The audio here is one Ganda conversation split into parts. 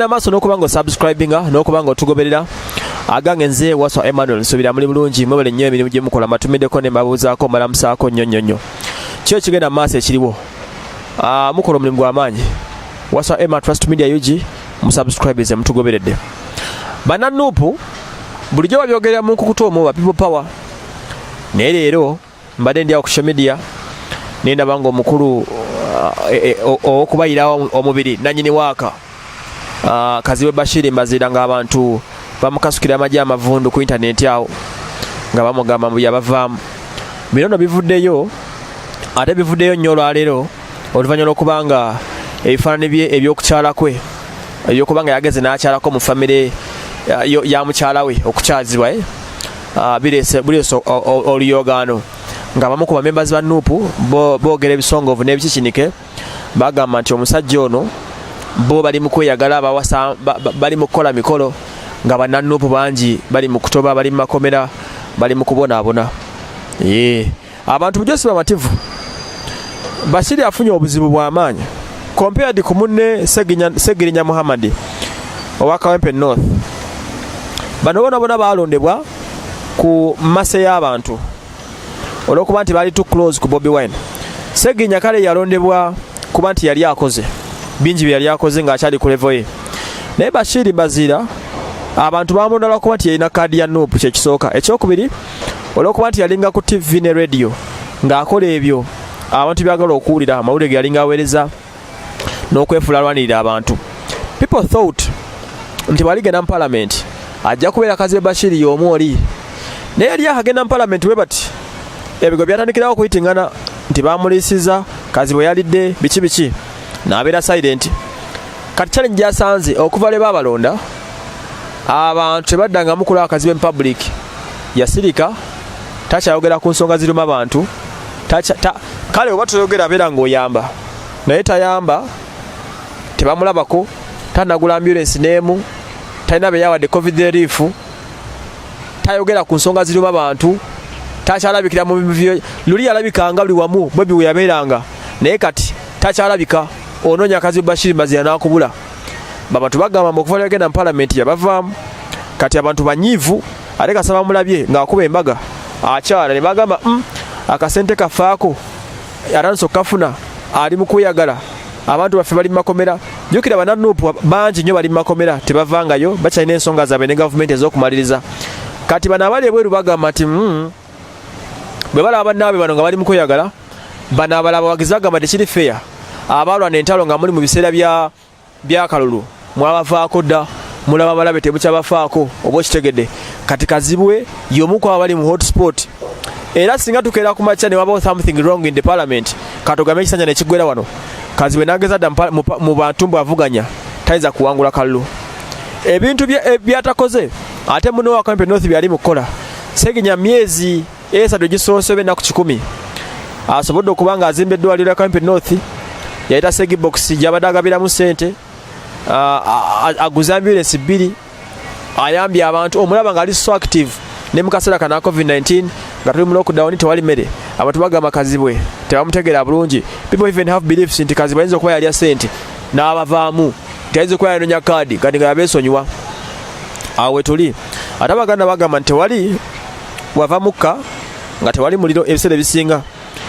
namaaso n'okuba nga osubscribinga n'okuba nga otugoberera agange nze waswa emmanuel nsubira muli bulungi mwebale nnyo emirimu gye mukola matumiddeko ne mbabuuzaako mbalamusaako nnyo nnyo nnyo kyo ekigenda mu maaso ekiriwo ah, mukola omulimu gw'amaanyi waswa emma trust media ug musubscribes mutugoberedde bana nupu bulijjo babyogerera mu nkukuta omu ba people power naye leero mbadde ndi akusha media naye ndabanga omukulu uh, eh, eh, owokubayira omubiri nanyini waaka uh, kaziwe bashiri mbaziira nga abantu bamukasukira amagye amavundu ku intaneti awo nga bamugamba mbu yabavaamu bino no bivuddeyo ate bivuddeyo nnyo olwaleero oluvannyuma lw'okuba nga ebifaanani bye ebyokukyala kwe ebyokuba nga yageze n'akyalako mu famire ya mukyala we okukyazibwa eh? ah, bireese oluyoogaano ng'abamu ku bamembazi ba nuupu boogera ebisongovu n'ebikikinike bagamba nti omusajja ono bo bali mu kweyagala bawasa bali mu kukola mikolo nga bannanuupu bangi bali mu kutoba bali mu makomera bali mu kubonaabona yee abantu bujo si bamativu basiri afunye obuzibu bwamaanyi compared ku munne segirinya muhammadi owa kawempe north bano bona bona balondebwa ku mase y'abantu olwokuba nti bali to close ku bobi wine segirinya kale yalondebwa kuba nti yali akoze bingi bye yali akoze ng'akyali ku levo ye naye bashiri bazira abantu bamulondalwa kuba nti yalina kaadi ya nup kyekisooka ekyokubiri olwokuba nti yalinga ku tv ne radio ng'akola ebyo abantu byagala okuwulira amawulire ge yalinga aweereza n'okwefuula alwanirira abantu people thought nti bwaligenda mu palamenti ajja kubeera kazibe bashiri y'omu oli naye yali akagenda mu palamenti bwe bati ebigo byatandikirawo okuyitingana nti bamuliisiza kazibwe yalidde biki biki n'abeera silenti kati challenge gyasanze okuva lwe baabalonda abantu tebaddangamu kulaba kazibe mu public yasirika takyayogera ku nsonga ziruma bantu kale oba toyogera abeera ngaoyamba naye tayamba tebamulabako tanagula ambulensi n'emu talina beyawadde covid relief tayogera ku nsonga ziruma bantu takyalabikira mu bivyo luli yalabikanga buli wamu bobi weyabeeranga naye kati takyalabika onoonya kazi bashiri mazira nakubula baba tubagamba okuva lyagenda mu palamenti yabavaamu kati abantu banyiivu ate kasaba mulabye ng'akuba embaga akyala ne bagamba mm, akasente kafaako atanso kafuna ali mu kweyagala abantu baffe bali mu makomera jukira bananupu bangi nnyo bali mu makomera tebavangayo bakyalina ensonga zaabwe ne gavumenti ez'okumaliriza kati bano abali ebweru bagamba nti mm, bwe balaba bannaabe bano nga bali mu kweyagala bano abalaba bagize agamba tekiri feya abaalwana entalo nga muli mu biseera byakalulu mwabavaako dda mulaba balabe tebukyabafaako oba okitegedde kati kazibwe yomuku abali mu hotspot era singa tukeera ku makya ne wabawo something wrong in the parliament katugame ekisanja nekigwera wano kazibwe nageza dda mu bantu mbu avuganya tayinza kuwangula kalulu ebintu byatakoze ate munowakampe north byali mukukola segenya myezi esatu egisoose oba ennaku kikumi asobodde okuba nga azimba eddwaliro ya kampi north yayita segibox gyabadde agabiramu sente aguze ambulensi bbiri ayambye abantu omulaba nga ali so active ne mu kaseera kana covid-19 nga tuli mu lockdown tewali mmere abantu bagamba kazibwe tebamutegeera bulungi people even have beliefs nti kazibwe ayinza okuba yalya sente n'abavaamu nti ayinza okuba yanonya kaadi kati nga yabeesonyiwa awe tuli ate abaganda bagamba nti tewali wava mukka nga tewali muliro ebiseera ebisinga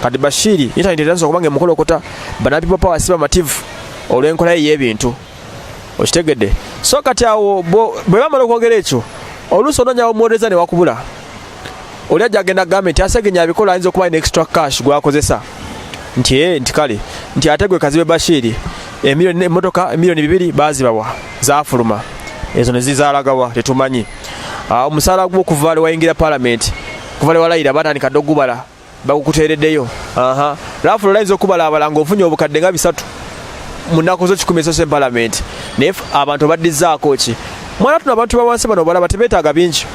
kati bashiri intaneti etansa okuba nga emukolokota banapipo power si bamativu olw'enkola ye y'ebintu okitegedde so kati awo bwe bamala okwogera ekyo oluusi ononyawo muwolereza ne wakubula oli ajja agenda gambe nti asegenya abikola ayinza okuba alina extra cash gwakozesa nti e nti kale nti ate gwe kazibe bashiiri emiliyoni emotoka emiliyoni bibiri bazibawa zafuluma ezo nezizalagawa tetumanyi ah, omusaala gwo okuvaale wayingira palamenti okuvaale walayira batandika dde okugubala bakukuteereddeyo aha laafu lolayinza okubalaabala ng'ofunye obukadde nga bisatu mu nnaku zo kikumi esose palamenti naye abantu obaddizaako ki mwana tuno abantu bawansi bano obalaba tebeetaaga bingi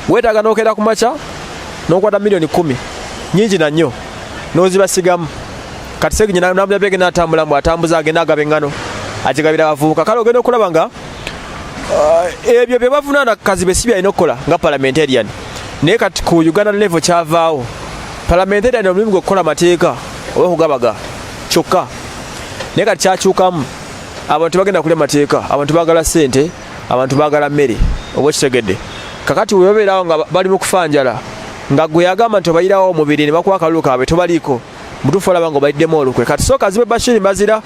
weetaaga n'okeera ku makya n'okwata miliyoni kumi nyingi na nnyo n'ozibasigamu kati seginyinamulabyabegenda atambula mbu atambuza agenda agaba eŋŋano agigabira abavubuka kale ogenda okulaba nga Uh, ebyo bye bavunaana kazi be si byalina okukola nga parliamentarian naye kati ku uganda level kyavaawo parliamentarian omulimu gwe okukola amateeka oba okugabaga kyokka naye kati kyakyukamu abantu tebagenda kulya mateeka abantu bagala sente abantu bagala mmere oba okitegedde kakati webabeerawo nga bali mu kufa njala nga gwe yagamba nti obayirawo omubiri ne bakuwa akalulu kaabwe tobaliiko mutuufu olaba nga obaiddemu olukwe kati sooka azibe bashiri mbazira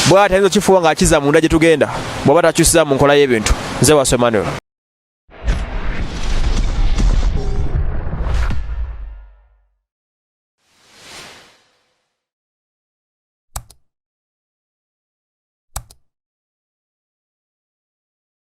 bwati ayinza okifuuwa ng'akiza munda gye tugenda bw'oba takyusiza mu nkola y'ebintu nze waso emmanuel